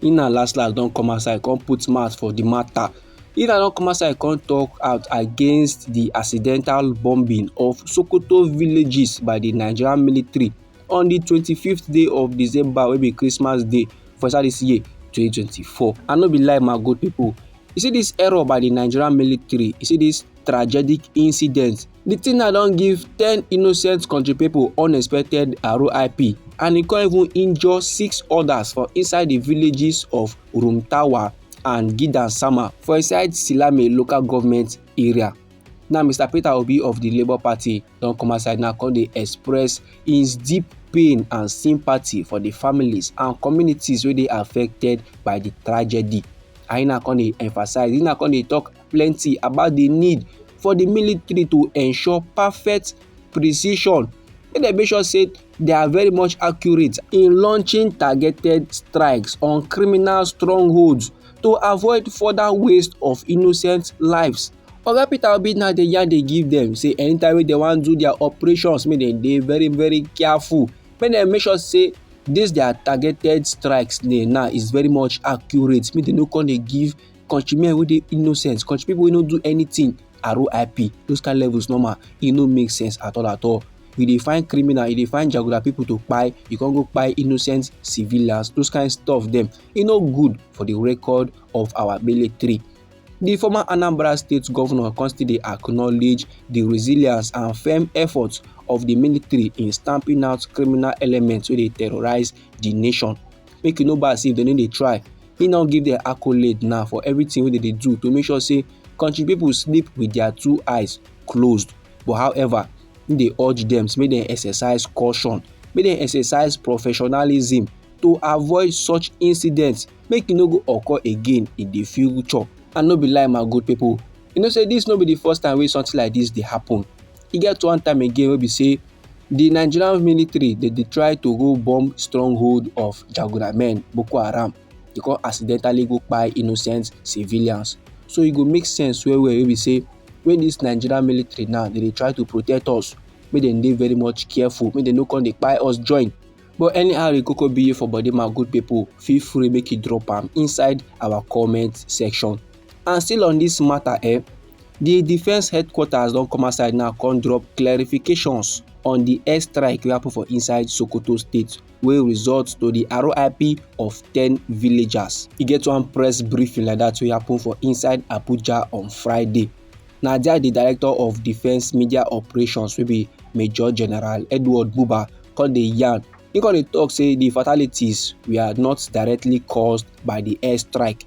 He na last last don come outside come put mouth for the matter. He na don come outside come talk out against the accidental bombing of Sokoto villages by the Nigerian military on the 25th day of December wey be Christmas day for inside this year 2024. I no be lie my good people. You see this error by the Nigerian military, you see this tragic incident. The thing na don give ten innocent country people unexpected RIP and e come even injure six others for inside the villages of Rumtawa and Gidan Sama for inside Silame local government area. Now Mr Peter Obi of the Labour Party don come outside now come dey express his deep pain and sympathy for the families and communities wey dey affected by the tragedy. And he na come dey emphasize, he na come dey talk plenty about the need for the military to ensure perfect precision make dem make sure say they are very much accurate in launching targeted strikes on criminal strongholds to avoid further waste of innocent lives. oga peter obi na dey yarn dey give dem say anytime wey dem wan do their operations make dem dey very very careful make dem make sure say this their targeted strikes dey now is very much accurate make dem no come dey give country men wey dey innocent country people wey no do anything RIP those kind levels normal e no make sense at all at all you dey find criminal you dey find jaguda people to kpai you con go kpai innocent civilians those kind stuff dem e no good for the record of our military The former Anambra State governor come still dey acknowledge the resilience and firm efforts of the military in stamping out criminal elements wey dey terrorize the nation. Make you no bad say if dem no dey try, He don give dem accolade now for everything wey dem dey do to make sure say country people sleep with their two eyes closed but however he dey urge dem make dem exercise caution make dem exercise professionalism to avoid such incidents make e no go occur again in the future and no be lie my good people you know say this no be the first time wey something like this dey happen e get one time again wey be say Di Nigerian military dem dey try to go bomb stronghold of Jagora men, Boko Haram, dey come accidentally go kpai innocent civilians. So e go make sense well well wey be say when dis Nigerian military now dey dey try to protect us, make dem dey very much careful, make dem no come dey kpai us join. But anyhow e koko be for body my good people, feel free make you drop am inside our comment section. And still on dis matter eh, di defence headquarters don come outside now come drop clarifications on di airstrike wey happen for inside sokoto state wey result to di rip of ten villagers e get one press briefing like dat wey happen for inside abuja on friday na dia di director of defence media operations wey be major general edward buba come dey yarn e come dey tok say di fatalities were not directly caused by di airstrike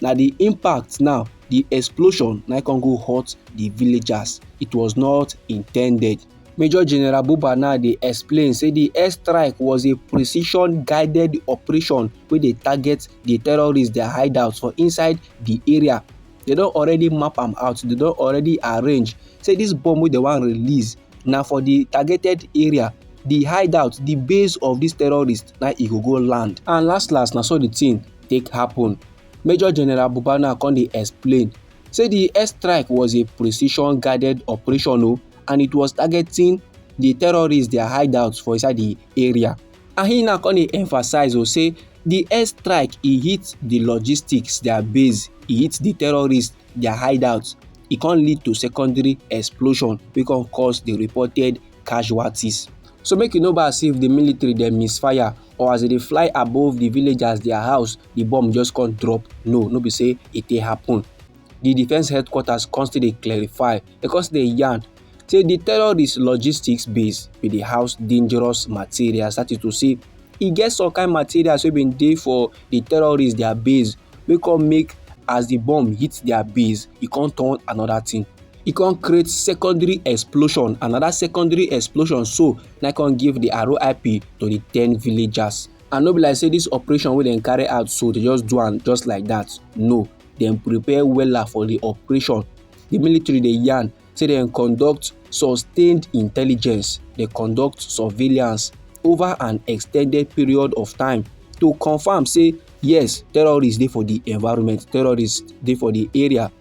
na the impact now the explosion na come go hurt the villagers it was not intended Major General Buba now dey explain say the airstrike was a precision guided operation wey dey target the terrorists their hideouts for inside the area. They don already map am out, they don already arrange say this bomb wey they wan release na for the targeted area the hideout the base of these terrorists na e go go land and last last na so the thing take happen. Major General Buba now come dey explain say the airstrike was a precision guided operation o oh, and it was targeting the terrorists their hideouts for inside the area. And he now come dey emphasize o oh, say the airstrike e hit the logistics their base, e hit the terrorists their hideouts. E come lead to secondary explosion wey come cause the reported casualties. So make you no bad say if the military dem misfire or as e dey fly above di villagers dia house di bomb just come drop no no be say e dey happen di defence headquarters come still dey clarify e come still dey yarn say di terrorist logistics base bin dey house dangerous materials that is to say e get some kind materials wey bin dey for di terrorists dia base wey come make as di bomb hit dia base e come turn another thing e come create secondary explosion another secondary explosion so na I come give the RIP to the ten villagers. And no be like say this operation wey dem carry out so they just do am just like that. No, dem prepare wella for the operation. The military dey yarn say dem conduct sustained intelligence, dey conduct surveillance over an extended period of time to confirm say yes, terrorists dey for the environment, terrorists dey for the area.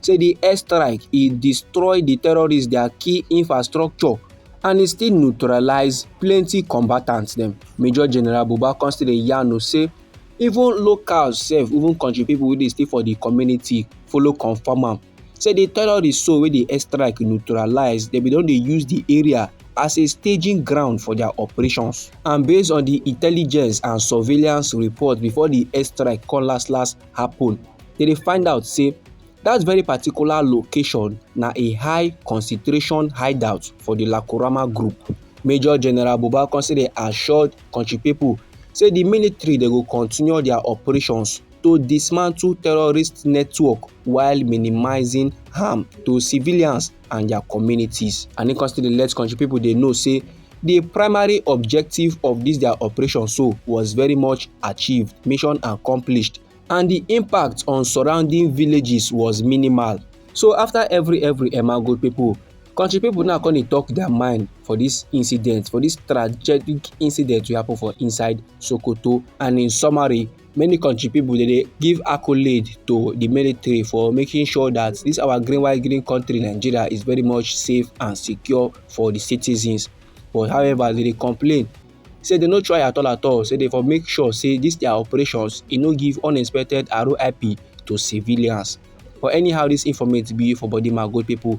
say di airstrike e destroy di terrorists dia key infrastructure and e still neutralise plenty combatants dem major general buba come still dey yarn o say even locals sef even country people wey dey stay for di community follow confam am say di terrorists so wey di airstrike neutralise dem bin don dey use di area as a staging ground for dia operations and based on di intelligence and surveillance report before di airstrike come last last happun dem dey find out say dat very particular location na a high concentration hideout for di lakurama group. major general buba consider assured kontri pipo say di military dey go continue dia operations to dismantle terrorist network while minimising harm to civilians. and their communities and e come still dey let country people dey know say the primary objective of this their operation so was very much achieved mission accomplished and the impact on surrounding villages was minimal so after every every emmago people country people now come dey talk their mind for this incident for this tragic incident wey happen for inside sokoto and in summary many country people dey dey give accolade to the military for making sure that this our green white green country nigeria is very much safe and secure for the citizens but however they dey complain say they no try at all at all say they for make sure say this their operations e no give unexpected roip to civilians for anyhow this informate be for body mago people